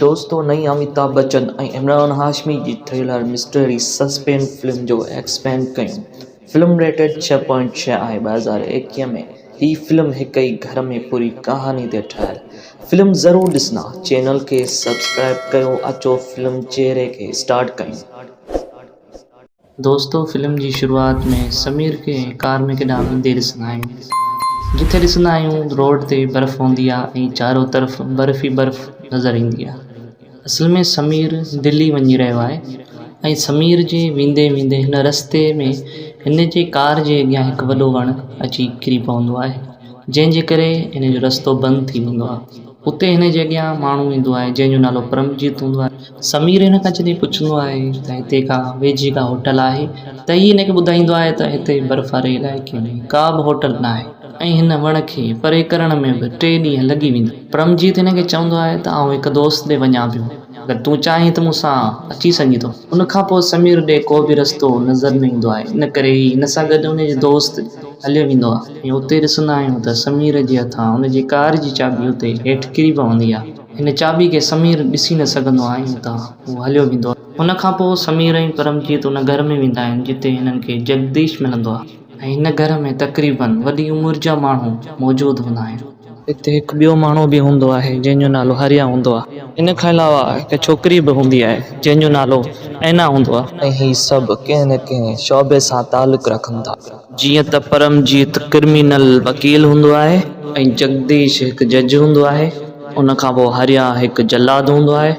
دوستو نئين اميتاڀ بچن ۽ عمران هاشمي جي ٿرلر مسٽري سسپينس فلم جو ايڪسپينڊ ڪيون فلم ريٽيڊ ڇهه پوائنٽ ڇهه آهي ٻه هزار ايڪيهه ۾ هي فلم هڪ ئي گهر ۾ پوري ڪهاڻي تي ٺهيل فلم ضرور ڏسندا چينل کي سبسڪرائب ڪيو اچو فلم چهري کي اسٽارٽ ڪيون. دوستو فلم جي شروعات ۾ سمير کي ڪار ۾ ڪيڏانهن ويندي ڏسندا آهيون جتي ڏسندا آهيون روڊ تي برف هوندي آهي ۽ چارو طرف برف ئي برف نظر ايندي آهي اصل ۾ سمير دلي وڃي رهيو آهي ۽ سمير جي ويندي ويندي هن رستي ۾ هن جي ڪار جي اڳيان هڪ وڏو وڻ اچي ڪري پوندو آهي جنهن جي ڪري هن جو رستو بند ٿي ويندو آهي. اتي هن جي اڳيان ماڻهو ايندو آهي جنهن جو نالو پرمجيت هوندو آهي. سمير هن کان جڏهن پڇندو آهي ته هتي ڪا ويجهي ڪا هوٽل آهي ته هي هن کي ٻڌائيندو آهي ته هتي برف واري علائقي ۾ ڪا به هوٽل ناهي ۽ هن وڻ کي پري ڪرڻ ۾ به ٽي ڏينهن لڳي ويندا آهن. پرمجيت هن کي چوندو آهي ته آئون هڪ دوست ڏي وڃان پيو. اگر تون چاهين ته مون سان اچي سگهين ٿو. ان کان پوء سمير ڏي ڪو به رستو نظر نه ايندو آهي ان ڪري هي هن سان گڏ ان جو دوست هليو ويندو آهي ۽ اتي ڏسندا آهيون ته سمير جي هٿان ان جي ڪار جي چاٻي اتي هيٺ ڪري پوندي آهي. هن چاٻي کي سمير ڏسي نه سگهندو آهي ۽ اتان هو هليو ويندو آهي. ان کان پوء سمير ۽ پرمجيت ان گهر ۾ ويندا آهن جتي هنن کي جگديش ملندو آهي. هن گهر ۾ تقريباً وڏي عمر جا ماڻهو موجود هوندا آهن. اتي هڪ ٻيو ماڻهو به هوندو آهي، جنهن جو نالو هاريا هوندو آهي. ان کان علاوه هڪ ڇوڪري به هوندي آهي، جنهن جو نالو اينا هوندو آهي. ۽ هي سڀ ڪنهن نه ڪنهن شعبي سان تعلق رکن ٿا. جيئن ته پرمجيت ڪرمينل وڪيل هوندو آهي ۽ جڳديش هڪ جج هوندو آهي. ان کان پوء هاريا هڪ جلاد هوندو آهي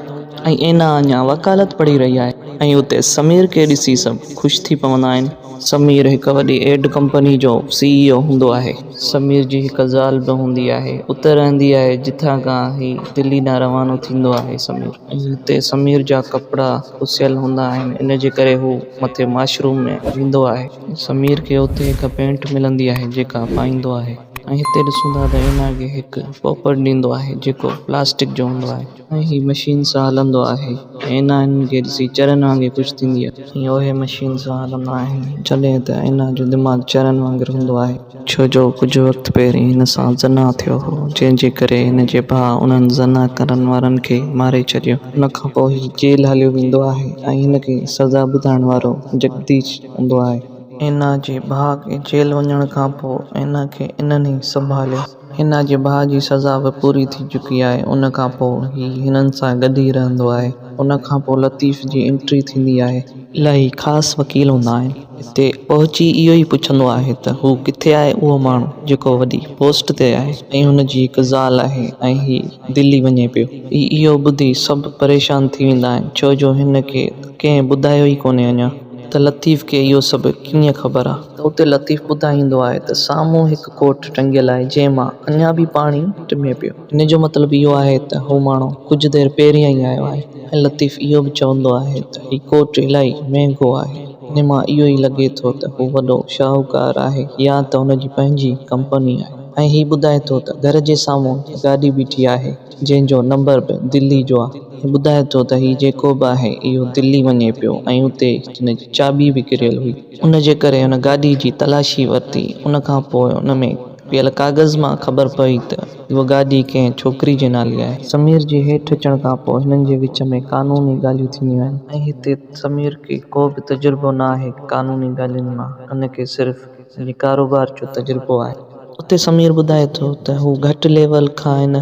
۽ اينا اڃا وڪالت پڙهي رهي آهي ۽ اتي سمير کي ڏسي سڀ خوش ٿي پوندا آهن. سمير هڪ وڏي ايڊ ڪمپني جو سي اي او هوندو آهي. سمير جي هڪ زال به هوندي آهي. اتي رهندي آهي جتان کان هي دلي ڏانهن روانو ٿيندو آهي. سمير. هتي سمير جا ڪپڙا پسيل هوندا آهن ان جي ڪري هو مٿي ماشروم ۾ ويندو آهي. سمير کي اتي هڪ پينٽ ملندي آهي جيڪا پائيندو آهي ۽ هتي ڏسون ٿا ته اينا کي هڪ پوپٽ ڏيندو آهي جيڪو پلاسٽڪ جو هوندو آهي. ۽ هي مشين سان هلندو آهي. اينا هنن کي ڏسي چرن وانگي خوش ٿيندي آهي. ۽ اهي مشين سان هلندا آهن. جڏهن ته اينا جو دماغ چرن وانگر هوندو آهي. ڇو جو ڪجهه وقت پهرين هن سان زنا ٿيو هو جنهن جي ڪري هن جي ڀاء انهن زنا ڪرڻ وارن کي ماري ڇڏيو. ان کان پوء هي جيل هليو ويندو آهي ۽ هن کي سزا ٻڌائڻ وارو جگديش هوندو آهي. اينا جي ڀاء کي جيل وڃڻ کان پوء اينا کي انهن ئي سنڀاليو. هن جي ڀاء جي سزا به پوري ٿي چڪي آهي ان کان پوء هي هنن سان گڏ ئي رهندو آهي ان کان پوء لطيف جي انٽري ٿيندي آهي. الاهي خاص وڪيل هوندا آهن اتي پهچي اهو ئي پڇندو آهي ته هو ڪٿي آهي اهو ماڻهو جيڪو وڏي پوسٽ تي آهي ۽ هن جي هڪ زال آهي ۽ هي دلي وڃي پيو هي اهو ٻڌي سڀ پريشان ٿي ويندا آهن ڇو جو هن کي ته ڪنهن ٻڌايو ئي ڪونهي اڃا ته لطيف کي اهو سڀ ڪيئن خبر آهي ته اتي لطيف ٻڌائيندو آهي ته سامهون هڪ ڪوٽ ٽنگيل آهي، جنهن مان اڃا به پاڻي ٽمي پيو. ان جو مطلب اهو آهي ته هو ماڻهو ڪجهه دير پهريان ئي آيو آهي ۽ لطيف اهو به چوندو آهي ته هي ڪوٽ الائي مهنگو آهي. ان مان اهو ئي لڳي ٿو ته هو وڏو شاهوڪار آهي يا ته هن جي پنهنجي ڪمپني آهي ۽ هي ٻڌائي ٿو ته گهر جي سامهون گاڏي بيٺي آهي، جنهن جو نمبر به دلي جو آهي ۽ ٻڌائي ٿو ته هي جيڪو به آهي اهو دلي وڃي پيو ۽ اتي هن جي چاٻي به ڪريل هئي. ان جي ڪري هن گاڏي جي تلاشي ورتي، ان کان پوء ان ۾ پيل ڪاغذ مان خبر پئي ته اهو گاڏي ڪنهن ڇوڪري جي نالي آهي. سمير جي هيٺ اچڻ کان پوء هنن جي وچ ۾ قانوني ڳالهيون ٿينديون آهن ۽ هتي سمير کي ڪو به تجربو نه آهي قانوني ڳالهين مان، هن کي صرف پنهنجي ڪاروبار جو تجربو آهي. اتي سمير ٻڌائي ٿو ته هو گهٽ ليول کان هن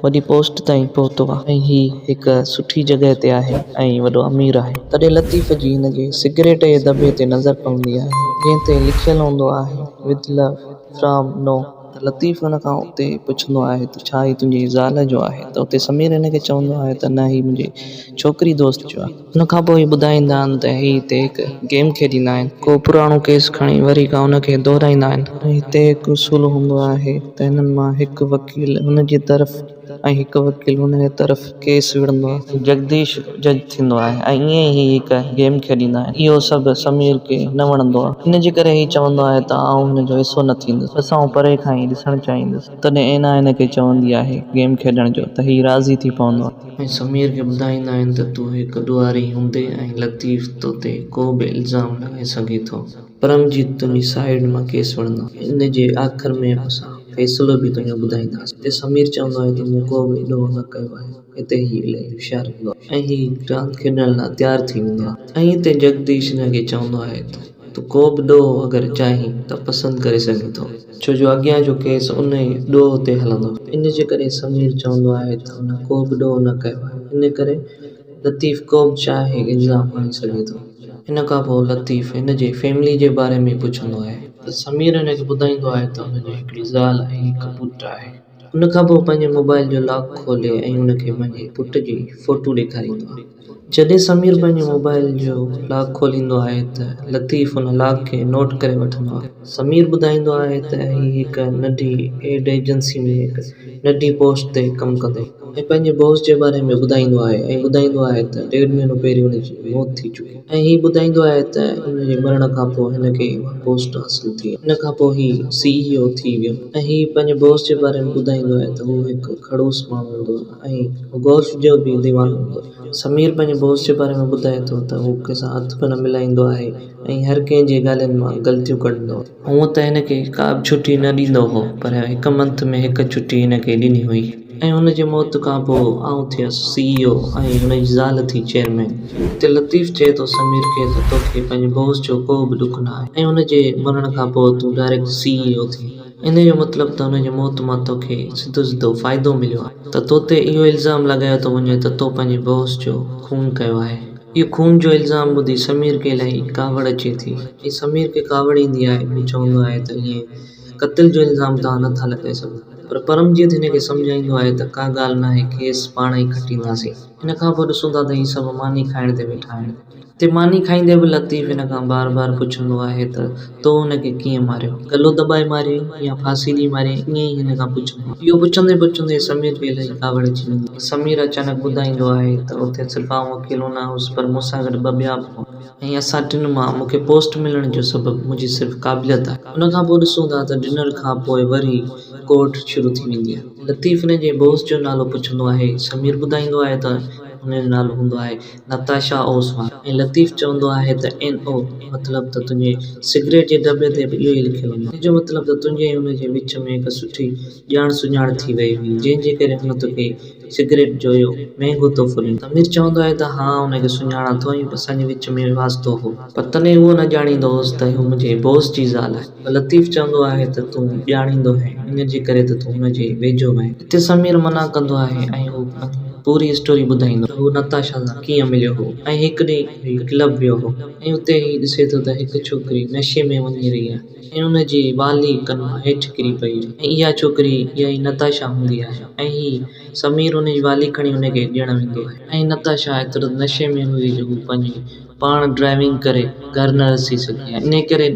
وڏي پوسٽ تائين پهتو آهي ۽ هي هڪ سٺي جڳهه تي آهي ۽ وڏو امير آهي. تڏهن لطيف جي هن جي سگريٽ جي دٻي تي نظر پوندي آهي جنهن تي لکيل هوندو آهي With Love From No. ته لطيف هن کان اتي پڇندو آهي ته ڇا هي تنهنجي زال جو آهي ته اتي سمير هن کي چوندو آهي ته نه هي منهنجي ڇوڪري دوست جو آهي. ان کان پوء ٻڌائيندا آهن ته هي هتي هڪ گيم کيڏيندا آهن. ڪو پراڻو ڪيس کڻي وري کان ان کي دهرائيندا آهن. هتي هڪ اصول هوندو آهي ته هنن مان هڪ وڪيل هن جي طرف ۽ هڪ وڪيل هن جي طرف ڪيس وڙهندو آهي. جگديش جج ٿيندو آهي ۽ ائين ئي هي هڪ گيم کيڏيندا آهن. اهو سڀ سمير کي نه وڻندو آهي. ان جي ڪري هي چوندو آهي ته آئون هن جو حصو نه ٿيندس. بس آئون پري کان ئي ڏسڻ چاهيندس. تڏهن اينا هن کي چوندي آهي گيم کيڏڻ جو ته هي راضي ٿي پوندو آهي. ۽ سمير کي ٻڌائيندا آهن ته تون هڪ ڏوهاري هوندي ۽ لطيف تو تي ڪو به الزام لڳائي سگهي ٿو. پرمجيت تنهنجي سائيڊ مان ڪيس وڙهندو ان جي آخر ۾ اسان فيصلو به تنهنجو ٻڌائينداسين هتي سمير چوندو آهي ته مون ڪو به ڏوهه نه ڪيو آهي هتي هي الائي هوشيار هوندو آهي ۽ هي راند کيڏڻ لاء تيار ٿي ويندو آهي ۽ هتي جگديش هن کي چوندو آهي ته. تون ڪو به ڏوهه اگر چاهين ته پسند ڪري سگهين ٿو. ڇو جو اڳيان جو ڪيس ان ئي ڏوهه تي هلندو. ان جي ڪري سمير چوندو آهي ته هن ڪو به ڏوهه نه ڪيو آهي. ان ڪري لطيف ڪو به چاهي الزام هڻي سگهي ٿو. ان کان پوء لطيف هن جي فيملي جي باري ۾ پڇندو آهي. ته سمير هن کي ٻڌائيندو آهي ته هن جي هڪڙي زال ۽ هڪ پٽ آهي. ان کان پوء پنهنجي موبائيل جو لاڪ کولي ۽ هن کي پنهنجي پٽ جي فوٽو ڏيکاريندو آهي. جڏهن سمير پنهنجي موبائيل جو لاڪ کوليندو آهي ته لطيف ان لاڪ کي نوٽ ڪري وٺندو آهي. سمير ٻڌائيندو آهي ته هي هڪ ننڍي ايڊ ايجنسي ۾ هڪ ننڍي پوسٽ تي ڪم ڪندو هو ۽ پنهنجي باس جي باري ۾ ٻڌائيندو آهي ۽ ٻڌائيندو آهي ته ڏيڍ مهينو پهرين ان جي موت ٿي چڪي. ۽ هي ٻڌائيندو آهي ته هن جي مرڻ کان پوء هن کي اها پوسٽ حاصل ٿي ۽ ان کان پوء هي سي اي او ٿي ويو ۽ هي پنهنجي باس جي باري ۾ ٻڌائيندو آهي ته هو هڪ کڙوس ماڻهو هوندو هو ۽ گولف جو به ديوانو هوندو هو. سمير پنهنجي باس جي باري ۾ ٻڌائي ٿو ته هو ڪنهن سان هٿ به نه ملائيندو آهي ۽ هر ڪنهن جي ڳالهين مان غلطيون ڪڍندو آهي. هونء ته هن کي ڪابه ڇٽي نه ڏيندو هو، پر هڪ منٿ ۾ هڪ ڇٽي هن کي ڏني هئي ۽ هن جي موت کان پوء آئون ٿيس سي اي او ۽ هن جي زال ٿي چيئرمين. هتي لطيف چئي ٿو سمير کي ته توکي پنهنجي باس جو ڪو به ڏک نه آهي ۽ هن جي مرڻ کان پوء تون ڊائريڪٽ سي اي او ٿين. انهيء جو مطلب ته هن جي موت مان توکي سڌو سڌو فائدو مليو آهي ته توتي اهو الزام لڳايو ٿو وڃي ته تو پنهنجي باس جو خون ڪيو آهي. هيء خون جو الزام ٻڌي سمير کي الائي ڪاوڙ اچي ٿي ۽ سمير کي ڪاوڙ ايندي آهي. هو چوندو آهي ته ائين قتل جو الزام توهان نه ٿا لڳائي سگهو. پر پرمجيت هن کي سمجهائيندو آهي ته ڪا ڳالهه ناهي ڪيس پاڻ ئي کٽينداسين. ان کان پوء ڏسون ٿا ته هي سڀ ماني کائڻ تي ويٺا آهن. اتي ماني کائيندي به لطيف هن کان بار بار پڇندو آهي ته تو هن کي ڪيئن ماريو؟ گلو دٻائي ماريئي يا ڦاسي ڏئي ماريئي؟ ائين ئي هن کان پڇبو هو. اهو پڇندي پڇندي سمير کي الائي ڪاوڙ اچي ويندي هئي. سمير اچانڪ ٻڌائيندو آهي ته اتي صرف آئون اڪيلو نه هوس پر مون سان گڏ ٻه ٻيا به هئا. ۽ اسان ٽن مان مون کي پوسٽ ملڻ جو سبب منهنجي صرف قابليت آهي. ان کان پوء ڏسون ٿا ته ڊنر کان پوء وري ڪورٽ شروع ٿي ويندي آهي. لطيف هن جي بوس جو نالو پڇندو آهي. سمير ٻڌائيندو آهي ته هن جو نالو هوندو آهي نتاشا اوسواق ۽ لطيف چوندو آهي ته اين او مطلب ته تنهنجي سگريٽ جي دٻي تي به اهو ئي لکيو وڃي ٿو. ان جو مطلب ته تنهنجي ۽ هن جي وچ ۾ هڪ سٺي ڄاڻ سڃاڻ ٿي وئي هئي، جنهن جي ڪري هن توکي سگريٽ جو اهو مهنگو تحفو ڏنو. سمير چوندو آهي ته ها ان کي سڃاڻان ٿو ۽ اسان جي وچ ۾ واسطو هو. پر تڏهن اهو نه ڄاڻيندو هوس ته اهو منهنجي بوس جي زال آهي. لطيف چوندو آهي ته تون ڄاڻيندو هين، ان جي ڪري ته تون ان جي ويجهو وئين. اتي سمير منع ڪندو آهي ۽ هو پوري اسٽوري ٻڌائيندو ته هو نتاشا سان ڪيئن مليو هو ۽ هڪ ڏينهن هي ڪلب ويو هو ۽ اتي هي ڏسي ٿو ته هڪ ڇوڪري نشي ۾ وڃي رهي آهي ۽ ان جي والي ڪن مان هيٺ ڪري پئي آهي ۽ اها ڇوڪري اها ئي نتاشا هوندي آهي ۽ هي سمير ان جي والي کڻي ان کي ڏيڻ ويندو آهي ۽ نتاشا ايترو ته نشي ۾ هوندي جو هو پنهنجي پاڻ ڊرائيونگ ڪري گهر نه رسي سگهي ۽ انهيء ڪري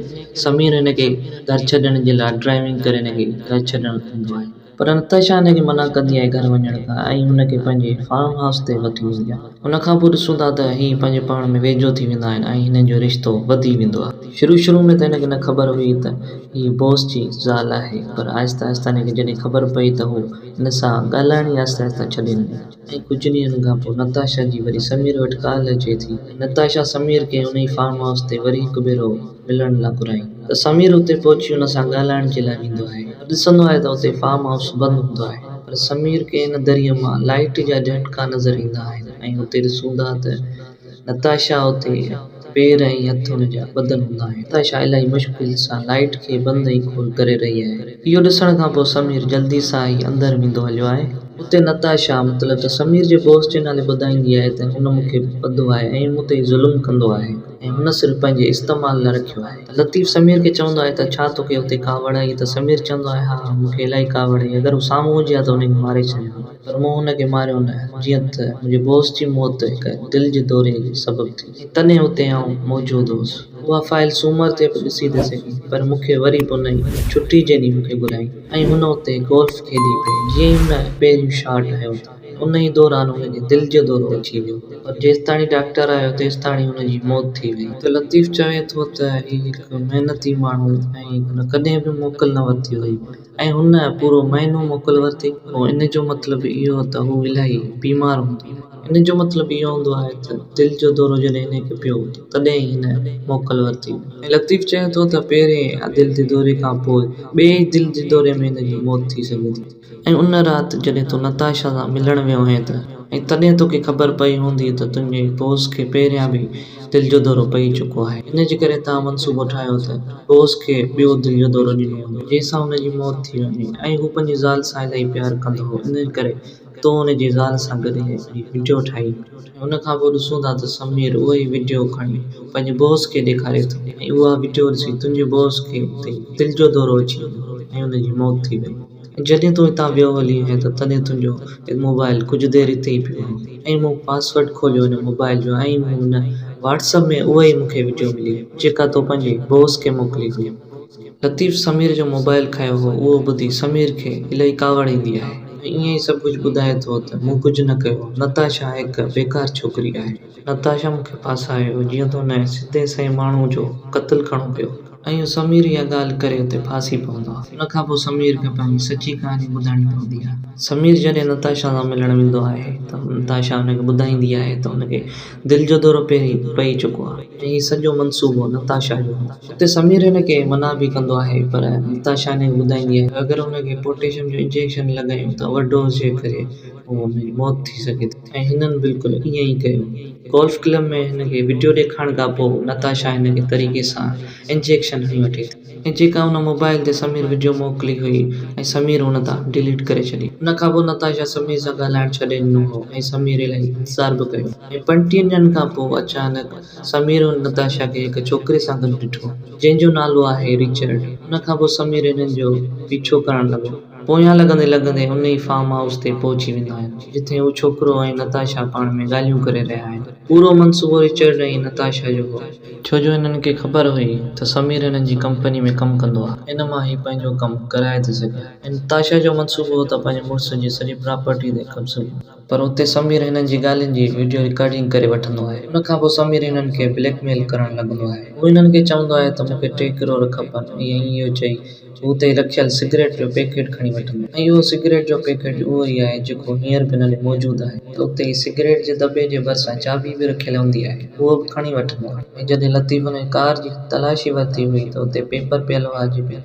سمير هن کي گهر ڇڏڻ جي لاء ڊرائيونگ ڪري هن کي گهر ڇڏڻ ايندو آهي پر نتاشا هن کي منع ڪندي آهي گهر وڃڻ کان ۽ هن کي پنهنجي فارم هائوس تي وٺي ويندي آهي. ان کان پوء ڏسون ٿا ته هي پنهنجي پاڻ ۾ ويجهو ٿي ويندا آهن ۽ هنن جو رشتو وڌي ويندو آهي. شروع شروع ۾ ته هن کي نه خبر هئي ته هي بوس جي زال آهي پر آهستي آهستي هن کي جڏهن خبر پئي ته هو هن سان ڳالهائڻ ئي آهستي آهستي ڇڏي ڏني. ۽ ڪجهه ڏينهن کان پوء نتاشا جي وري سمير وٽ ڪال اچي ٿي ۽ نتاشا سمير کي ان ئي فارم هائوس تي وري هڪ ڀيرو ملڻ لاء گهرائين ته سمير اتي پهچي ان سان ڳالهائڻ جي لاء ويندو آهي ته ڏسندو آهي ته اتي فارم هائوس بند هوندو آهي پر سمير کي ان دريء مان لائيٽ جا جهٽڪا نظر ايندا آهن ۽ اتي ڏسون ٿا ته نتاشا اتي پير ۽ هٿن جا ٻڌل هوندا آهن. نتاشا الائي مشڪل سان لائيٽ کي بند ۽ کول ڪري رهي آهي. اهو ڏسڻ کان پوء سمير جلدي سان ئي اندر ويندو هليو آهي. اتي نتاشا مطلب ته سمير جي بوس جي نالي ٻڌائيندي آهي ته هن مون کي ٻڌو آهي ۽ مون تي ظلم ڪندو آهي ۽ هن صرف پنهنجي استعمال لاء رکيو آهي. لطيف سمير کي چوندو آهي ته ڇا توکي اتي ڪاوڙ آهي ته سمير چوندو آهي ها مون کي الائي ڪاوڙ آهي اگر هو سامهون هجي ها ته هن کي ماري ڇڏيان ها. پر مون هن کي ماريو نه، جيئن ته منهنجي بوس جي موت هڪ دل جي دوري جي سبب ٿي. ۽ تڏهن اتي آئون موجود هوس. اها فائيل سومر تي به ڏسي ٿي سگهين، پر مون کي وري به ان ئي ڇٽي جي ڏينهن مون کي گهرايائين ۽ هن اتي گولف کيڏي پئي. جيئن ئي هن پهريون شاٽ هنيو ته ان ئي دوران هن کي دل جو دورو اچي ويو، پر جيستاڻي ڊاڪٽر آيو تيستاڻي هن جي موت ٿي وئي. ته لطيف چوي ٿو ته هي هڪ محنتي ماڻهو ۽ هن ڪڏهن به موڪل نه ورتي هئي. ۽ هن پورو مهينو موڪل ورتي، پوء ان جو مطلب اهو ته هو الاهي بيمار هوندو. ان جو مطلب اهو هوندو آهي ته دل جو دورو جڏهن هن کي پيو ته تڏهن ئي هن موڪل ورتي هئي. ۽ لطيف چئي ٿو ته پهرين دل جي دوري کان پوء ٻئي دل جي دوري ۾ هن جي موت ٿي سگهي ٿي. ۽ ان رات جڏهن تون نتاشا سان ملڻ ويو هئين ته ۽ تڏهن توکي خبر پئي هوندي ته تنهنجي بوس کي پهريان به دل جو دورو پئي چڪو آهي، ان جي ڪري تان منصوبو ٺاهيو ته بوس کي ٻيو دل جو دورو ڏنو وڃي، جنهن سان هن جي موت ٿي وڃي ۽ هو پنهنجي زال سان الاهي پيار ڪندو هو، ان ڪري تون هن جي زال سان گڏ هي وڊيو ٺاهين. ۽ ان کان پوء ڏسون ٿا ته سمير اهو ئي وڊيو کڻي پنهنجي بوس کي ڏيکاري ٿو ۽ اها وڊيو ڏسي تنهنجي بوس کي اتي دل جو دورو اچي ويو ۽ ان جي موت ٿي وئي. جڏهن تون هتان ويو هلي آهين ته تڏهن تنهنجو موبائل ڪجهه دير هتي ئي پيو آهي ۽ مون پاسورڊ کوليو هن موبائل جو ۽ مون هن واٽس اپ ۾ اها ئي مون کي وڊيو ملي جيڪا تو پنهنجي بوس کي موڪلي هئي. لطيف سمير جو موبائل کايو هو اهو ٻڌي سمير کي الائي ڪاوڙ ايندي آهي ۽ ائين ئي سڀ ڪجهه ٻڌائي ٿو ته مون ڪجهه نه ڪيو نتاشا هڪ بيڪار ڇوڪري آهي. نتاشا مون کي ڦاسايو، جيئن ته ان کي سڌي سئين ماڻهوء جو قتل ڪرڻو پيو. ۽ سمير اها ڳالهه ڪري اتي ڦاسي پوندو آهي. ان کان پوء سمير کي پنهنجي سچي ڪهاڻي ٻڌائڻي پوندي آهي. سمير جڏهن نتاشا سان ملڻ ويندو آهي ته نتاشا ان کي ٻڌائيندي آهي ته ان کي دل جو دورو پهرين پئي چڪو آهي. ۽ هي سڄو منصوبو نتاشا جو هو. اتي سمير ان کي منع به ڪندو آهي پر نتاشا ان کي ٻڌائيندي آهي ته اگر ان کي پوٽيشم جو انجيڪشن لڳايون ته اوورڊوز جي ڪري ان جي موت ٿي سگهي ٿي. ۽ هنن بلڪل ائين ئي ڪيو. گولف ڪلب ۾ هن کي وڊيو ڏيکارڻ کانپوء نتاشا هن کي طريقي سان انجيڪشن هڻي وٺي ٿي. ۽ جيڪا هن موبائل تي سمير وڊيو موڪلي هئي ۽ سمير هن تان ڊيليٽ ڪري ڇڏي. ان کانپوء نتاشا سمير سان ڳالهائڻ ڇڏي ڏنو هو ۽ سمير الائي انتظار به ڪيو ۽ پنجٽيهن ڏينهن کانپوء اچانڪ سمير هن نتاشا کي هڪ ڇوڪري سان گڏ ڏٺو جنهن جو نالو آهي ريچرڊ. ان کانپوء سمير هنن جو پيڇو ڪرڻ لڳو. پويان لڳندي لڳندي ان ئي فارم هائوس تي پهچي ويندا آهن، جتي هو ڇوڪرو ۽ نتاشا پاڻ ۾ ڳالهيون ڪري رهيا آهن. پورو منصوبو رچرڊ ۽ نتاشا جو هو. ڇو جو هنن کي خبر هئي ته سمير هنن جي ڪمپني ۾ ڪم ڪندو آهي. ان مان هي پنهنجو ڪم ڪرائي ٿي سگهي ها ۽ نتاشا جو منصوبو هو ته پنهنجي مڙس جي سڄي پراپرٽي تي قبضو ڪندي. پر اتي سمير هنن جي ڳالهين جي وڊيو رڪارڊنگ ڪري وٺندو آهي. ان کان پوء سمير هنن کي بليڪ ميل ڪرڻ لڳندو آهي. هو هنن کي چوندو آهي ته مون کي ٽي ڪروڙ کپن ۽ ائين اهو چئي هو اتي ئي رکيل سگريٽ جو پيڪيٽ کڻي وٺندو آهي ۽ اهو سگريٽ جو پيڪيٽ اهو ئي آهي جيڪو هينئر به هنن ڏي موجود آهي. اتي ئي سگريٽ جي دٻي جي ڀرسان چاٻي به رکيل هوندي آهي اهو به کڻي وٺندو آهي. ۽ جڏهن لطيف هنن جي ڪار جي تلاشي ورتي هئي ته اتي پيپر پيل هئا جيڪي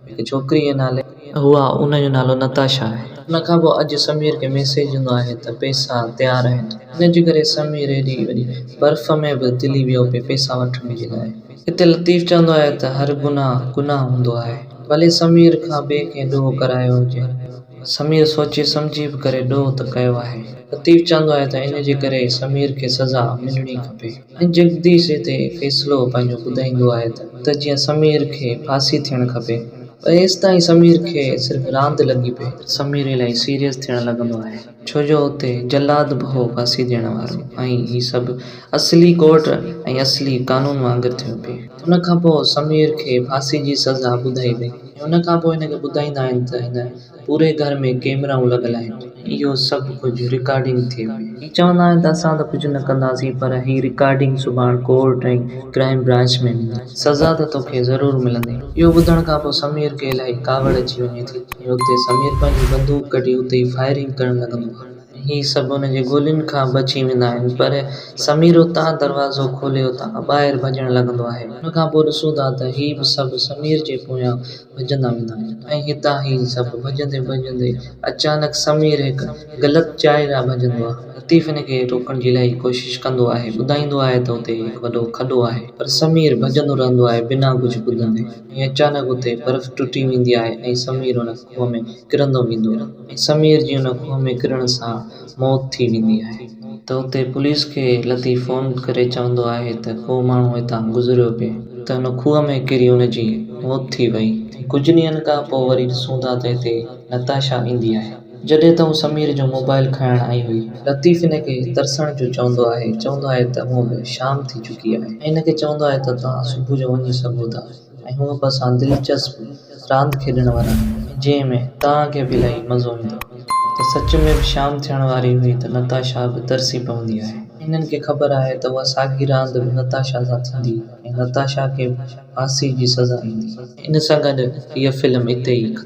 هڪ ڇوڪريء جي نالي هو آ، ان جو نالو نتاشا آهي. ان کان پوء اڄ سمير کي ميسيج هوندو آهي ته پيسا تيار آهن. ان جي ڪري سمير ايڏي وڏي برف ۾ به تلي ويو پئي پيسا وٺڻ جي لاء. هتي لطيف چوندو آهي ته هر گناهه گناهه هوندو آهي. ڀلي سمير کان ٻئي ڪنهن ڏوهه ڪرايو هجي. سمير سوچي سمجهي به ڪري ڏوهه ته ڪيو آهي. لطيف چوندو آهي ته ان جي ڪري سمير کي سزا ملڻي کپي. ۽ جگديش هتي فيصلو پنهنجو ٻڌائيندو آهي ته جيئن سمير کي ڦاسي ٿيڻ کپي. پر ايستائين سمير کي صرف راند لڳي پئي. سمير الائي سيريس ٿيڻ لڳندو آهي. ڇو جو اتي جلاد به هو ڦاسي ڏيڻ وارو ۽ هي سڀ اصلي ڪورٽ ۽ اصلي قانون وانگر ٿيو پئي. ان کان پوء سمير کي ڦاسي جي سزا ٻڌائي وئي. ۽ ان کان پوء هن کي ٻڌائيندا آهن ته هن. پوري گهر ۾ ڪئميرائون لڳل آهن. اهو سڀ ڪجهه رڪارڊنگ ٿئي پئي. هي چوندا آهن ته اسان ته ڪجهه نه ڪنداسين پر هي رڪارڊنگ سڀاڻ ڪورٽ ۽ ڪرائيم برانچ ۾ ويندي. سزا ته توکي ضرور ملندي. اهو ٻڌڻ کان پوء سمير کي الائي ڪاوڙ اچي وڃي ٿي ۽ اتي سمير پنهنجي بندوق ڪڍي اتي ئي فائرنگ ڪرڻ لڳندو آهي. هي سڀ هن جي گولين کان بچي ويندا آهن پر سمير اتان دروازو کولي اتان کان ٻاهر ڀڄڻ لڳندو آهي. ان کان پوء ڏسون ٿا ته هي به سڀ سمير جي پويان ڀڄندا ويندا آهن ۽ هتان هي سڀ ڀڄندي ڀڄندي اچانڪ سمير هڪ غلط جاء ڏانهن ڀڄندو آهي. لطيف هن کي روڪڻ جي الائي ڪوشش ڪندو آهي، ٻڌائيندو آهي ته اتي هڪ وڏو کڏو آهي. پر سمير ڀڄندو رهندو آهي بنا ڪجهه ٻڌندي ۽ اچانڪ اتي برف ٽٽي ويندي آهي ۽ سمير ان کوهه ۾ ڪرندو ويندو آهي ۽ سمير جي ان کوهه ۾ ڪرڻ سان موت ٿي ويندي آهي ته اتي پوليس کي لطيف فون ڪري چوندو آهي ته ڪو ماڻهو هتان گذريو پئي ته ان کوهه ۾ ڪري ان جي موت ٿي وئي ۽ ڪجهه ڏينهن کان پوء وري ڏسون ٿا ته هتي نتاشا ايندي آهي جڏهن ته هو سمير جو موبائيل کڻڻ آئي هئي. لطيف هن کي ترسڻ جو چوندو آهي چوندو آهي ته هونء به شام ٿي چڪي آهي ۽ هن کي چوندو آهي ته توهان صبح جو وڃي سگهو ٿا. ۽ هو به اسان دلچسپ راند کيڏڻ وارا آهيون جنهن ۾ توهان کي به الائي مزو ايندو ته سچ ۾ به شام ٿيڻ واري هئي ته نتاشا به ترسي پوندي آهي. هنن کي خبر آهي ته اها ساڳي راند به نتاشا سان ٿيندي ۽ نتاشا کي به ڦاسي جي سزا ايندي. ان سان گڏ هيء فلم اتي ئي ختم.